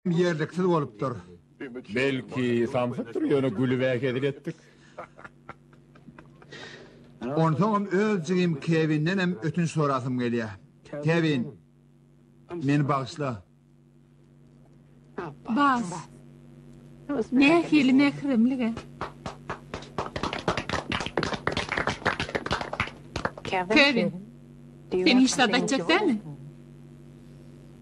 Ýerliksiz bolupdyr. Belki, samsykdyr, ýöne gülüb-ä hezil etdik. Onsoňam öz jigim Kewindenem ötünç sorasym gelýä. Kewin, meni bagyşla. Bas. Nähili mähremlig-ä. Kewin, sen hiç zat aýtjak dälmi?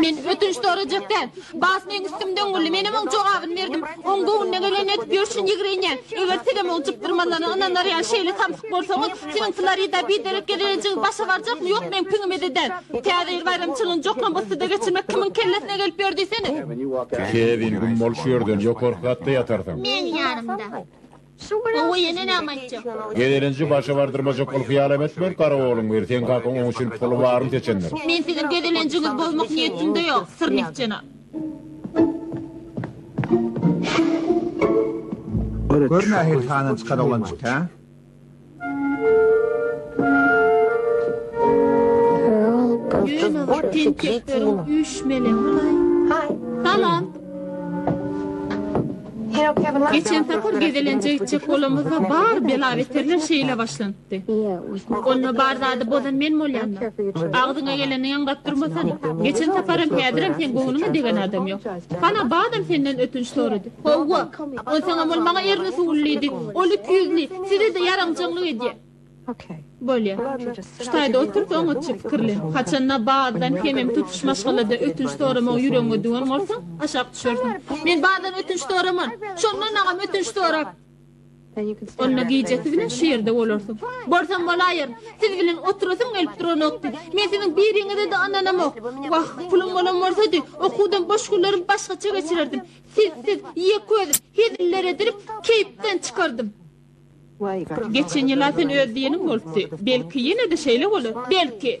Men ötünç sorajak däl. Bas meň üstümden güldi. Menem oň jogabyny berdim. Oň göwnüne gelenini edip ýörşün ýigrenýä. Eger sizem oň jykdyrmalaryna ynanarýan şeýle samsyk bolsaňyz, siziň Florida biderek gezelenjiňiz başa barjakmy, ýokmy meň piňimize däl. Täze ýyl baýramçylygyny joklambustyda geçirmek kimiň kellesine gelip ýör diýsene. Kevin, güm bol şu ýerden, ýokarky gatda ýatarsyň. Meň ýanymda. Gowy ýene näme aýtjak. Gezelenji başa bardyrmajak ol hyýalam etme gara ogluň bir seň kakaň oň üçin puly baryny seçendir. Men siziň gezelenjiňiz bozmak niýetimde ýok Syrnik jenap. Gör nähili tananyşyk oglanjyk hä. Geçen sapar gezelenje gitjek bolamyzda bar bela-beterler şeýle başlanypdy. Onda bar zady bozan men bolýan-da. Agzyňa geleni ýaňlap durmasana. Geçen saparam, häzirem seň göwnüňe degen adam ýok. Hana, badam senden ötünç sorady. Howwa, ol saňa bol, maňa erni suwly diýdi. Ol iki ýüzli, size-de ýaranjaňlyk edýär. Bolýa. Şu taýda otur-da, oňatja pikirlen. Haçan-da Bazdan hemem tutuş maşgalada ötünç soramagy ýüregiňe düwen bolsaň, aşak düşersiň. Men Bazdan ötünç soraman. Şondan-agam ötünç sorap. Onda gijesi bilen şu ýerde bolarsyň. Bolsam bolaýar. Siz bilen oturasym gelip duranokdy. Men siziň biriňize-de ynanamok. Wah, pulum bolan bolsady, okuwdan boş günlerim başgaça geçirerdim. Siz-siz, ýeközi, heziller edilip, keýpden çykardym. Geçen ýyl-a sen öz diýeniň bolupdy. Belki, ýene-de şeýle bolar. Belki!